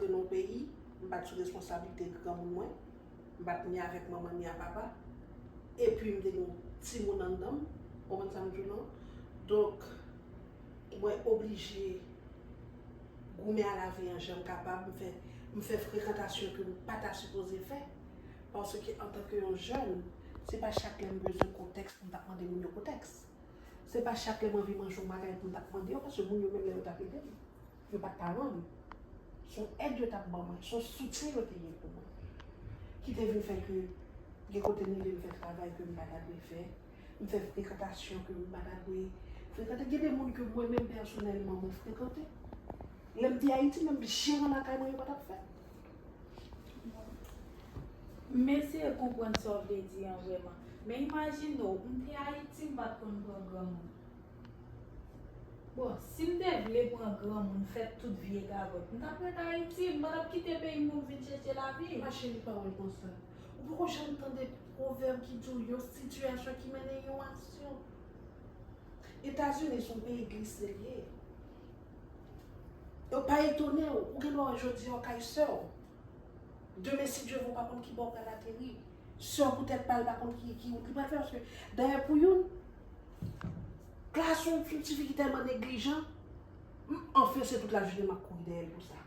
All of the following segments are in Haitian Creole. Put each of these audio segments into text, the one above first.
Te non peyi, m pa t sou responsablite granmoun mwen, m pa t ni avèk manman ni a papa, epi m te gen yon timoun anndan m, ou konprann sa m di w non? Donk, mwen oblije goumen a lavi an jan m kapab, m fè m fè frekantasyon ke m pa ta sipoze fè, paske antanke yon jèn, se pa chak lè m bezwen kontèks pou m t ap mande moun yo kontèks. Se pa chak lè m anvi manje yon bagay pou m t ap mande yo, paske moun yo menm lè yo t ap ede m. Yo pa t ka rann ou. S on èd yo t ap ban mwen, s on soutyen yo te gen pou mwen ki te vin fè ke gen kote m rive m fè travay ke m pa ta dwe fè, m fè frekantasyon ke m pa ta dwe frekante. Gen de moun ke mwen menm pèsonèlman mwen frekante. Lè m te Ayiti menm jeran lakay mwen yo pa t ap fèt. M eseye konprann sa w vle di an vrèman. Men imajine w, m te Ayiti m pa t konn pran granmoun. Bon, si m te vle pran granmoun fè tout vye gagòt, m t ap ret Ayiti, m pa t ap kite peyi m pou m vin chèche lavi. Ma chérie pawòl konsa. Ou poko janm tande pwovèb ki di w yon sitiyasyon ki mennen yon aksyon. Etazini s on peyi glise l ye. Donk pa etone w, ou gen dwa wè jodi a w kay sè w, demen si Dye vle w pa konn ki bò w pral ateri. Sè w pou tèt pa l pa konn ki ki wout li pral fè paske dayè pou youn klas yon ti fi ki tèlman neglijan m anfen se tout lajounen m ap kouri dèyè l pou sa.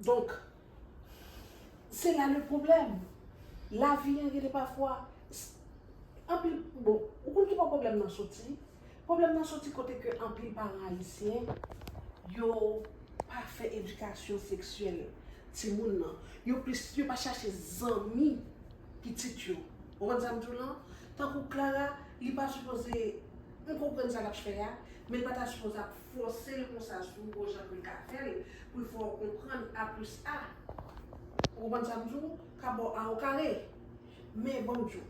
Donk se la le pwoblèm. Lavi an gen de pafwa anpil bon ou konn ki bò pwoblèm nan soti? Pwoblèm nan soti kote ke anpil paran ayisyen yo pa fè edikasyon seksyèl timoun nan. Yo plis, yo pa chache zanmi pitit yo. Ou konprann sa m di w lan? Tankou Clara, li pa sipoze, m konprann sa l ap fè a, men l pa ta sipoze ap fòse l konsa sou bon jan pou l ka fè l, pou l fè w konprann a plis a. Ou konprann sa m di w? Ka ba w a okare. Men ban m di w.